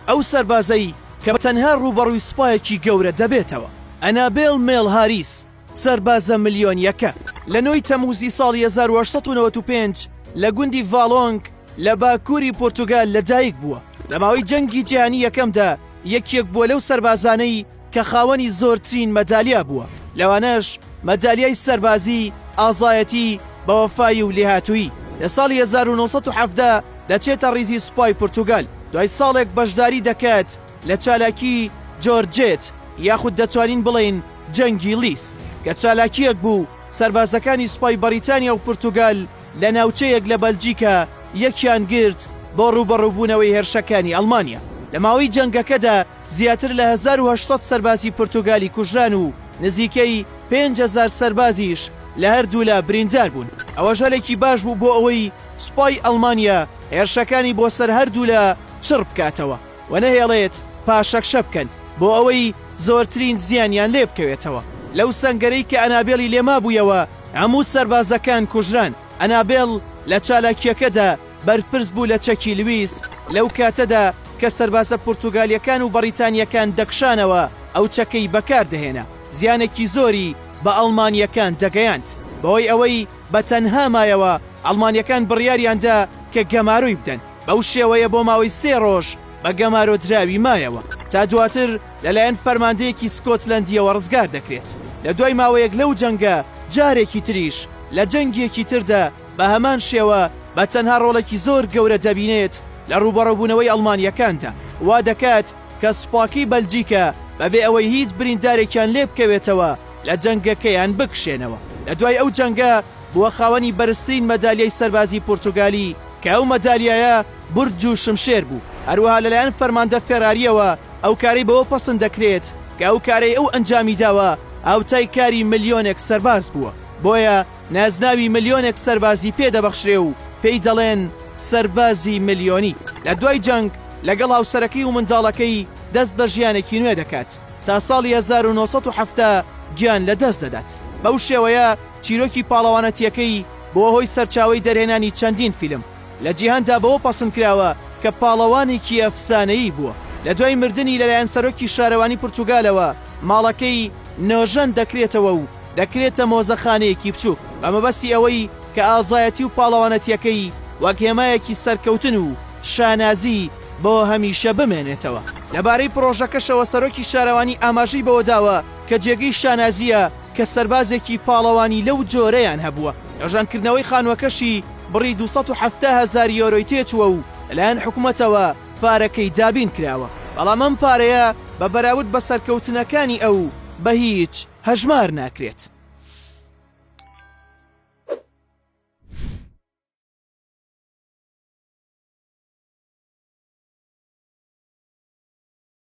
ئەو سەربازەی کە تەنها ڕووبەڕووی سوپایەکی گەورە دەبێتەوە. ئەنابێڵ مێڵ هاریس، سەربازە ملیۆنییەکە، لە نۆی تەمووزی ساڵی هەزار و هەشت سەد و نەوەد و پێنج لە گوندی ڤالۆنگ لە باکووری پورتوگال لەدایکبووە. لە ماوەی جەنگی جیهانی یەکەمدا یەکێک بووە لەو سەربازانەی کە خاوەنی زۆرترین مەدالیا بووە، لەوانەش مەدالیای سەربازی، ئازایەتی، بەوەفایی و لێهاتوویی. لە ساڵی هەزار و نۆ سەد و حەڤدە دەچێتە ڕیزی سوپای پورتوگال، دوای ساڵێک بەشداری دەکات لە چالاکی جۆرجێت یاخود دەتوانین بڵێین جەنگی لیس، کە چالاکییەک بوو سەربازەکانی سوپای بەڕیتانیا و پورتوگال لە ناوچەیەک لە بەلجیکا یەکیان گرت بۆ ڕووبەڕووبوونەوەی هێرشەکانی ئەڵمانیا لە ماوەی جەنگەکەدا. زیاتر لە هەزار و هەشت سەد سەربازی پورتوگالی کوژران و نزیکەی پێنج هەزار سەربازیش لە هەردوولا بریندار بوون، ئەوەش هەلێکی باش بوو بۆ ئەوەی سوپای ئەڵمانیا هێرشەکانی بۆ سەر هەردوولا چڕ بکاتەوە و نەهێڵێت پاشەکشە بکەن بۆ ئەوەی زۆرترین زیانیان لێ بکەوێتەوە. لەو سەنگەرەی کە ئەنابێڵی لێ مابوویەوە هەموو سەربازەکان کوژران، ئەنابێڵ لە چالاکییەکەدا، بەرپرس بوو لە چەکی لویس، لەو کاتەدا کە سەربازە پورتوگالیەکان و بەڕیتانیەکان دەکشانەوە ئەو چەکەی بەکاردەهێنا، زیانێکی زۆری بە ئەڵمانیەکان دەگەیاند، بەهۆی ئەوەی بە تەنها مایەوە ئەڵمانیەکان بڕیاریاندا کە گەمارۆی بدەن، بەو شێوەیە بۆ ماوەی سێ ڕۆژ بە گەمارۆدراوی مایەوە تا دواتر لەلایەن فەرماندەیەکی سکۆتلەندیەوە ڕزگاردەکرێت، لە دوای ماوەیەک لەو جەنگە جارێکی تریش لە جەنگێکی تردا بە هەمان شێوە بە تەنها ڕۆڵێکی زۆر گەورە دەبینێت لە ڕووبەڕووبوونەوەی ئەڵمانییەکاندا، وا دەکات کە سوپاکەی بەلجیکا بەبێ ئەوەی هیچ بریندارێکیان لێبکەوێتەوە لە جەنگەکەیان بکشێنەوە. لە دوای ئەو جەنگە بووە خاوەنی بەرزترین مەدالیای سەربازی پورتوگالی کە ئەو مەدالیایە برج و شمشێر بوو. هەروەها لەلایەن فەرماندە فێرارییەوە ئەو کارەی بەوە پەسند دەکرێت کە ئەو کارەی ئەو ئەنجامی داوە هاوتای کاری ملیۆنێک سەرباز بووە، بۆیە، نازناوی ملیۆنێک سەربازی پێ دەبەخشرێ و پێی دەڵێن سەربازی ملیۆنی. لە دوای جەنگ لەگەڵ هاوسەرەکەی و منداڵەکەی دەست بە ژیانێکی نوێ دەکات، تا ساڵی هەزار و نۆ سەد و حەفتا گیان لە دەست دەدات. بەو شێوەیە چیرۆکی پاڵەوانەتییەکەی بووە هۆی سەرچاوەی دەرهێنانی چەندین فیلم. لە جیهاندا بەوە پەسند کراوە کە پاڵەوانێکی ئەفسانەیی بووە. لە دوای مردنی لەلایەن سەرۆکی شارەوانی پرتوگالەوە ماڵەکەی نۆژەن دەکرێتەوە و دەکرێتە مۆزەخانەیەکی بچووک بە مەبەستی ئەوەی کە ئازایەتی و پاڵەوانەتییەکەی وەک هێمایەکی سەرکەوتن و شانازی بۆ هەمیشە بمێنێتەوە. لەبارەی پڕۆژەکەشەوە سەرۆکی شارەوانی ئاماژەی بەوەداوە کە جێگەی شانازییە کە سەربازێکی پاڵەوانی لەو جۆرەیان هەبووە، نۆژەنکردنەوەی خانووەکەشی بڕی دوو سەد و حەفتا هەزار یۆرۆی تێچووە و لەلایەن حکومەتەوە پارەکەی دابینکراوە، بەڵام ئەم پارەیە بە بەراورد بە سەرکەوتنەکانی ئەو بە هیچ. هەژمار ناکرێت.